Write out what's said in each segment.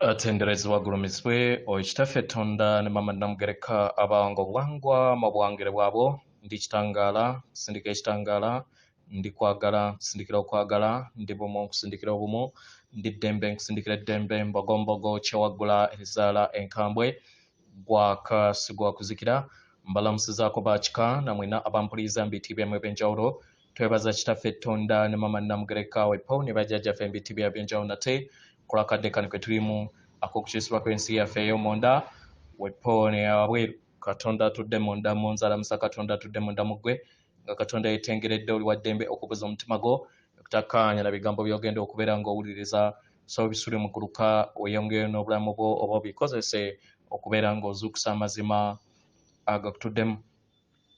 atenderezebwa agulumizibwe oyo kitaffe tonda ne mama namugereka abange obwangwa mabwangire bwabwo ndi kitangaala sindika ekitangaala ndi kwagala nsindikira okwagala ndi bumu nkusindikira obumu ndi ddembe nkusindikira eddembe mbogombogo kyewaggula ezaala enkambwe gwaka sigwakuzikira mbalamusizaako bakika namwena abampuliiza mubitiibyamu ebyenjawulo Twebaza Kitaffe Tonda ne Mama Namugereka we Paul ne bajjajjaffe embitti bya byonjawo nate kulakadde kano ke tulimu ak'okukyusibwa kw'ensi yaffe ey'omunda we Paul ne yawabweru Katonda atudde munda mu nzala musa Katonda atudde munda mu ggwe nga Katonda yetengeredde oli waddembe okubuza omutima gwo okutakaanya na bigambo by'ogenda okubeera ng'owuliriza so bisule muguluka weyongere n'obulamu bwo oba obikozese okubeera ng'ozuukusa amazima agakutuddemu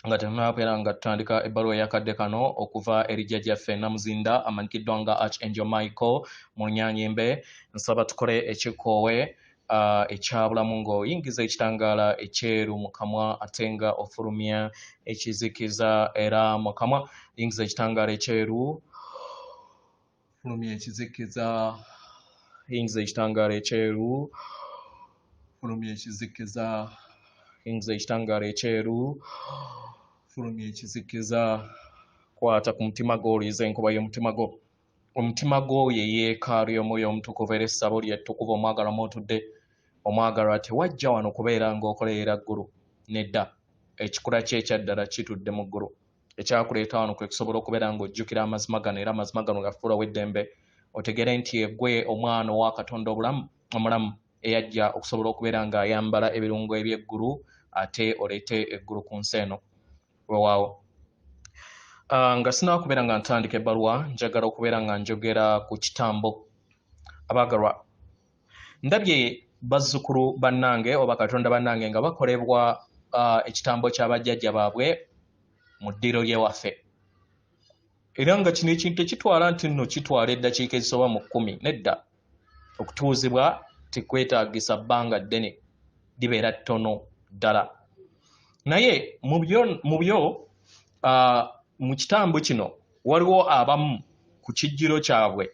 nga tetunabeera nga tutandika ebbaluwa yakadde kano okuva eri jjajjaffe namuzinda amanyikiddwa nga arch angel michael mu nyanyimbe nsaba tukole ekikoowe uh, ekyabulamu ng'oyingiza ekitangaala ekyeru mu kamwa ate nga ofulumya ekizikiza era mu kamwa yingiza ekitangaala ekyeru Fulumya ekizikiza, yingiza ekitangaala ekyeru. Fulumya ekizikiza, yingiza ekitangaala ekyeru. Fulumya ekizikiza, kwata ku mutima gwo, oliiza enkuba y'omutima gwo. Omutima gwo ye yeekaalu y'omwoyo omutukuvu era essabo lye ttukuvu omwagala mw'otudde. Omwagalwa tewajja wano kubeera ng'okolerera ggulu. Nedda, ekikula kye ekya ddala kitudde mu ggulu. ekyakuleeta wano kwe kusobola okubeera ng'ojjukira amazima gano era amazima gano gafuula w'eddembe otegere nti egwe omwana owa katonda obulamu omulamu eyajja okusobola okubeera ng'ayambala ebirungo eby'eggulu ate oleete eggulu ku nsi eno wewaawo ah, nga sinakubeera nga ntandika ebbaluwa njagala okubeera nga njogera ku kitambo abaagalwa ndabye bazzukulu bannange oba katonda bannange nga bakolebwa uh, ekitambo kya bajjajja baabwe mu ddiro lyewaffe era nga kino ekintu tekitwala nti nno kitwala eddakiika ezisoba mu kkumi nedda okutuuzibwa tekwetagisa bbanga ddene libeera ttono ddala naye mu byo uh, mu kitambo kino waliwo abamu ku kijjiro kyabwe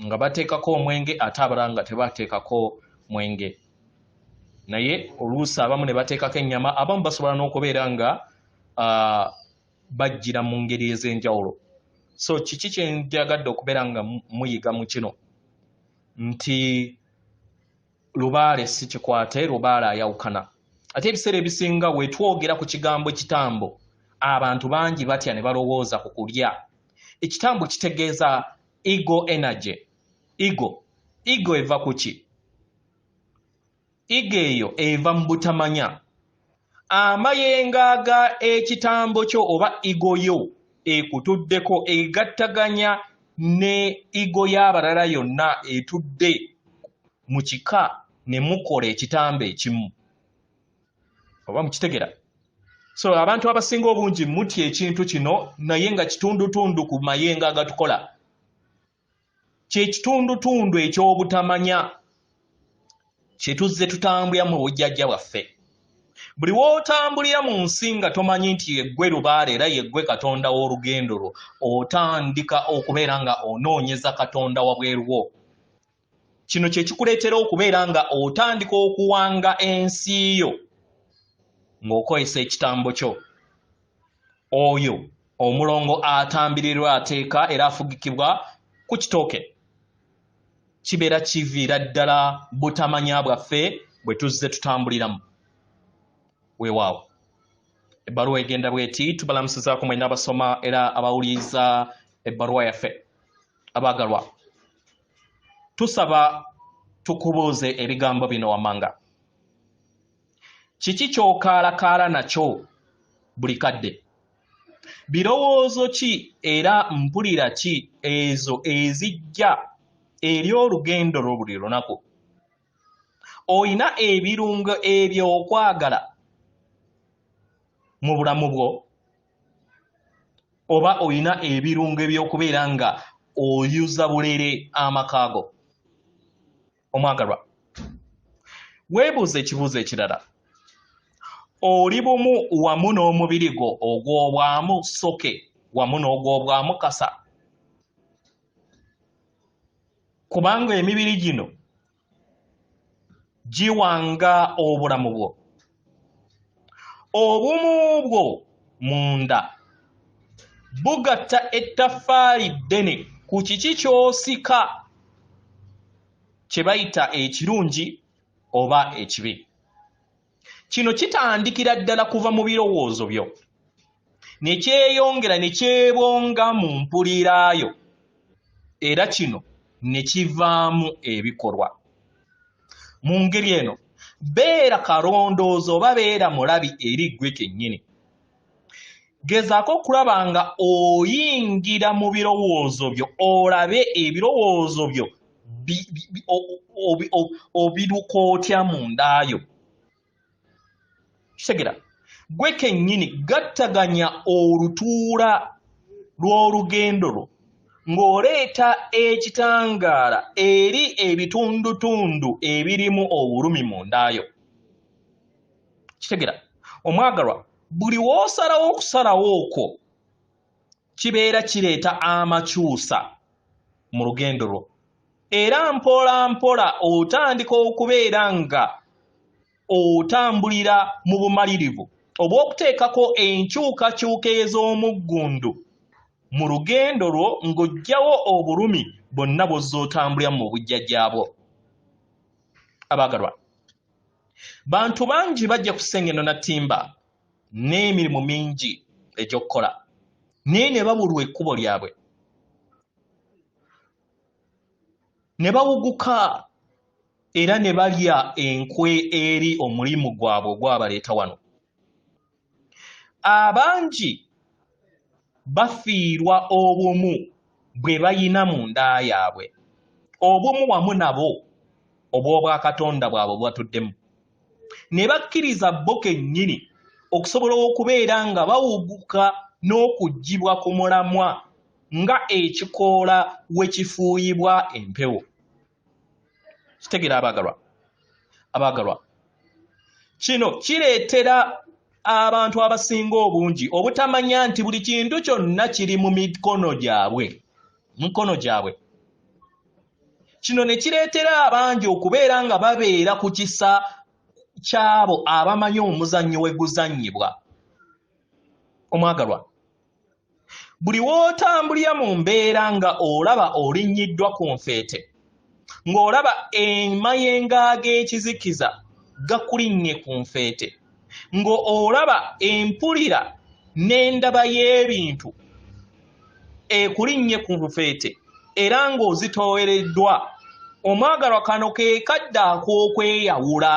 nga bateekako omwenge ate abalala nga tebateekako mwenge naye oluusi abamu ne bateekako ennyama abamu basobola n'okubeera nga uh, bajjira mu ngeri ez'enjawulo so kiki kye njagadde okubeera nga muyiga mu kino nti lubaale si kikwate lubaale ayawukana ate ebiseera ebisinga wetwogera ku kigambo kitambo abantu bangi batya ne balowooza ku kulya ekitambo kitegeeza ego energy ego ego eva kuki ego eyo eva mu butamanya amayengaaga ekitambo kyo oba ego yo ekutuddeko egattaganya ne ego y'abalala yonna etudde mu kika ne mukola ekitambo ekimu oba mukitegera so abantu abasinga obungi mutya ekintu kino naye nga kitundutundu ku mayenga agatukola kyekitundutundu ekyobutamanya kyetuzze tutambulira mu bujjajja bwaffe buli w'otambulira mu nsi nga tomanyi nti yeggwe lubaale era yeggwe katonda w'olugendo lwo otandika okubeera nga onoonyeza katonda wabweruwo kino kye kikuleetera okubeera nga otandika okuwanga ensi yo ng'okozesa ekitambo kyo oyo omulongo atambirirwa ateeka era afugikibwa ku kitooke kibeera kiviira ddala butamanya bwaffe bwe tuzze tutambuliramu weewaawo ebbaluwa egenda bweti tubalamusizaako mwena abasoma era abawuliriza ebbaluwa yaffe abaagalwa tusaba tukubuuze ebigambo bino wamanga kiki kyokaalakaala nakyo buli kadde birowoozo ki era mpulira ki ezo ezijja eri olugendo lwo buli lunaku olina ebirungo ebyokwagala mu bulamu bwo oba olina ebirungo ebyokubeera nga oyuza bulere amakaago omwagalwa weebuuza ekibuuzo ekirala oli bumu wamu n'omubiri gwo ogw'obwamu soke wamu n'ogw'obwamu kasa kubanga emibiri gino giwanga obulamu bwo obumu bwo munda bugatta ettafaali ddene ku kiki ky'osika kye bayita ekirungi oba ekibi kino kitandikira ddala kuva mu birowoozo byo ne kyeyongera ne kyebonga mu mpulira yo era kino ne kivaamu ebikolwa mu ngeri eno beera kalondoozi oba beera mulabi eri ggwe kennyini gezaako okulaba nga oyingira mu birowoozo byo olabe ebirowoozo byo obiruka otya mu ndaayo kitegera gwe kennyini gattaganya olutuula lw'olugendo lwo ng'oleeta ekitangaala eri ebitundutundu ebirimu obulumi mu ndaayo kitegera omwagalwa buli wosalawo okusalawo okwo kibeera kireeta amakyusa mu lugendo lwo era mpola mpola otandika okubeera nga otambulira mu bumalirivu obw'okuteekako enkyukakyuka ez'omuggundu mu lugendo lwo ng'oggyawo obulumi bonna bw'ozza otambulira mu bujjajjaabwo abaagalwa bantu bangi bajja kusengeno na timba n'emirimu mingi egy'okukola naye ne babulwa ekkubo lyabwe ne bawuguka era ne balya enkwe eri omulimu gwabwe ogwabaleeta wano abangi bafiirwa obumu bwe bayina mu nda yaabwe obumu wamu nabo obw'obwakatonda bwabwe bubatuddemu ne bakkiriza bo kennyini okusobola okubeera nga bawuguka n'okuggyibwa ku mulamwa nga ekikoola we kifuuyibwa empewo kitegera abagalwa abagalwa kino kireetera abantu abasinga obungi obutamanya nti buli kintu kyonna kiri mu mikono gyabwe mikono gyabwe kino ne kireetera abangi okubeera nga babeera ku kisa ky'abo abamanyi omuzannyo we guzannyibwa omwagalwa buli w'otambulira mu mbeera nga olaba olinnyiddwa ku nfeete ng'olaba emayenga g'ekizikiza gakulinnye ku nfeete ng'olaba empulira n'endaba y'ebintu ekulinnye ku nfeete era ng'ozitoowereddwa omwagalwa kano ke kadde ak'okweyawula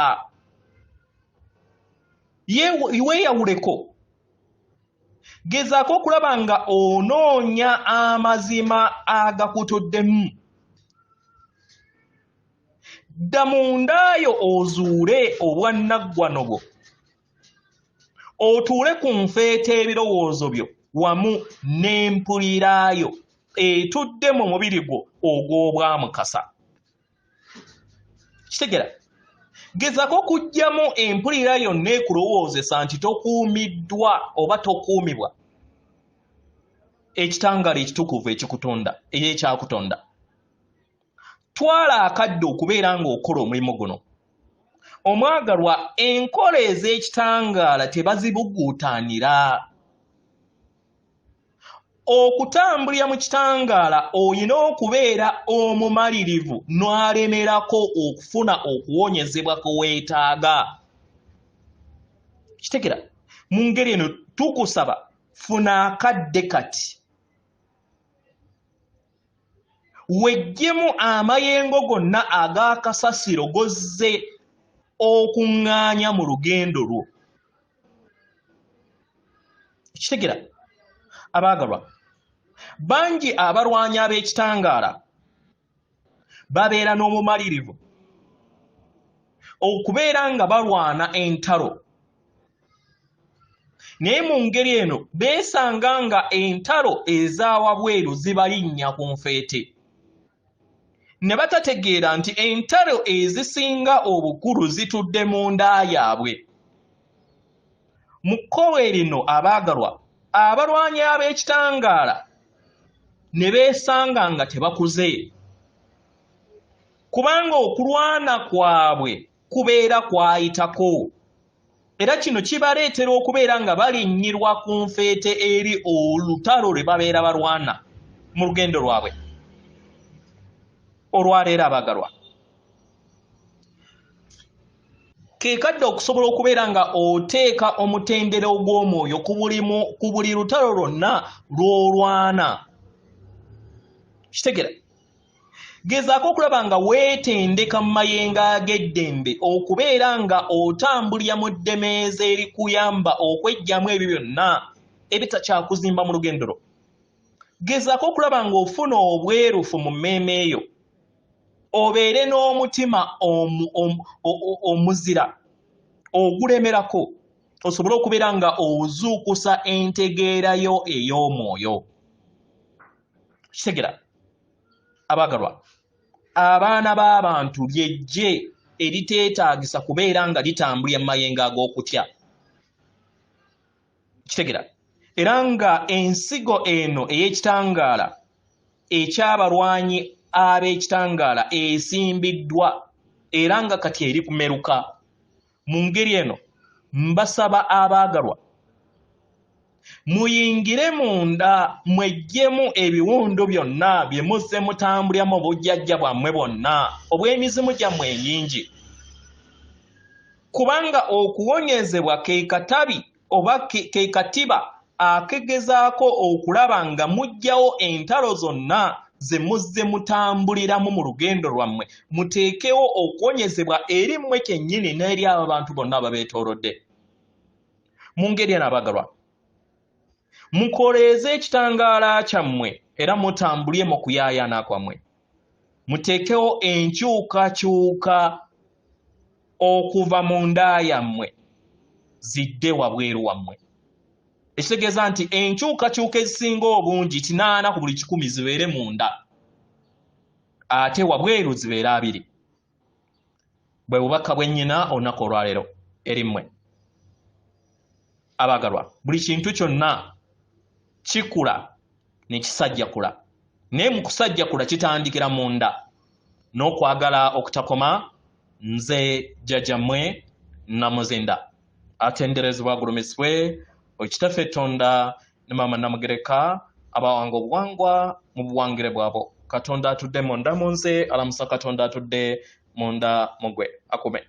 weeyawuleko gezaako okulaba nga onoonya amazima agakutuddemu dda mu ndaayo ozuule obwannaggwano bwo otuule ku nfeeta ebirowoozo byo wamu n'empuliraayo etudde mu mubiri gwo ogw'obwamukasa kitegera gezako okugyamu empulira yonna ekulowoozesa nti tokuumiddwa oba tokuumibwa ekitangaala ekitukuvu ekikutonda era ekyakutonda twala akadde okubeera ng'okola omulimu guno omwagalwa enkola ez'ekitangaala tebazibuguutanira okutambulira mu kitangaala olina okubeera omumalirivu n'alemerako okufuna okuwonyezebwa kwe weetaaga kitegera mu ngeri eno tukusaba funa akadde kati weggyemu amayengo gonna ag'akasasiro gozze okuŋŋaanya mu lugendo lwo ekitegera abaagalwa bangi abalwanyi ab'ekitangaala babeera n'obumalirivu okubeera nga balwana entalo naye mu ngeri eno beesanga nga entalo ez'awabweru zibalinnya ku nfeete ne batategeera nti entalo ezisinga obukulu zitudde mu nda yaabwe mu kkowe lino abaagalwa abalwanyi ab'ekitangaala ne beesanga nga tebakuze kubanga okulwana kwabwe kubeera kwayitako era kino kibaleetera okubeera nga balinnyirwa ku nfeete eri olutalo lwe babeera balwana mu lugendo lwabwe olwaleero abagalwa kekadde okusobola okubeera nga oteeka omutendera ogw'omwoyo ku buli lutalo lwonna lw'olwana kitegera gezaako okulaba nga weetendeka mu mayengo ag'eddembe okubeera nga otambulira mu ddemeeza erikuyamba okwejjamu ebyo byonna ebitakyakuzimba mu lugendo lwo gezaako okulaba ng'ofuna obwerufu mu mmeeme eyo obeere n'omutima omuzira ogulemerako osobole okubeera nga ozuukusa entegeera yo ey'omwoyo kitegera abagalwa abaana b'abantu lyejje eriteetaagisa kubeera nga litambulira mu mayengo ag'okutya kitegera era nga ensigo eno ey'ekitangaala ekyabalwanyi ab'ekitangaala esimbiddwa era nga kati eri kumeruka mu ngeri eno mbasaba abaagalwa muyingire munda mweggyemu ebiwundu byonna bye muzze mutambulira mu bujjajja bwammwe bwonna obw'emizimu gyammwe enyingi kubanga okuwonyezebwa ke katabi oba ke katiba akegezaako okulaba nga mujjawo entalo zonna ze muzze mutambuliramu mu lugendo lwammwe muteekewo okuwonyezebwa eri mmwe kyennyini n'eri abo bantu bonna ababeetoolodde mu ngeri eno abagalwa mukoleeze ekitangaala kyammwe era mutambulye mu kuyaayana kwammwe muteekewo enkyukakyuka okuva mu nda yammwe zidde wabweru wammwe ekitegeeza nti enkyukakyuka ezisinga obungi kinaana ku buli kikumi zibeere mu nda ate wabweru zibeere abiri bwe bubaka bwennyina olunaku olwaleero erimmwe abaagalwa buli kintu kyonna kikula ne kisajjakula naye mu kusajjakula kitandikira munda n'okwagala okutakoma nze jjajjammwe namuzinda atenderezebwa agulumizibwe okitaffe tonda ne maama namugereka abawanga obuwangwa mu buwangire bwabo katonda atudde munda mu nze alamusa katonda atudde munda mugwe akume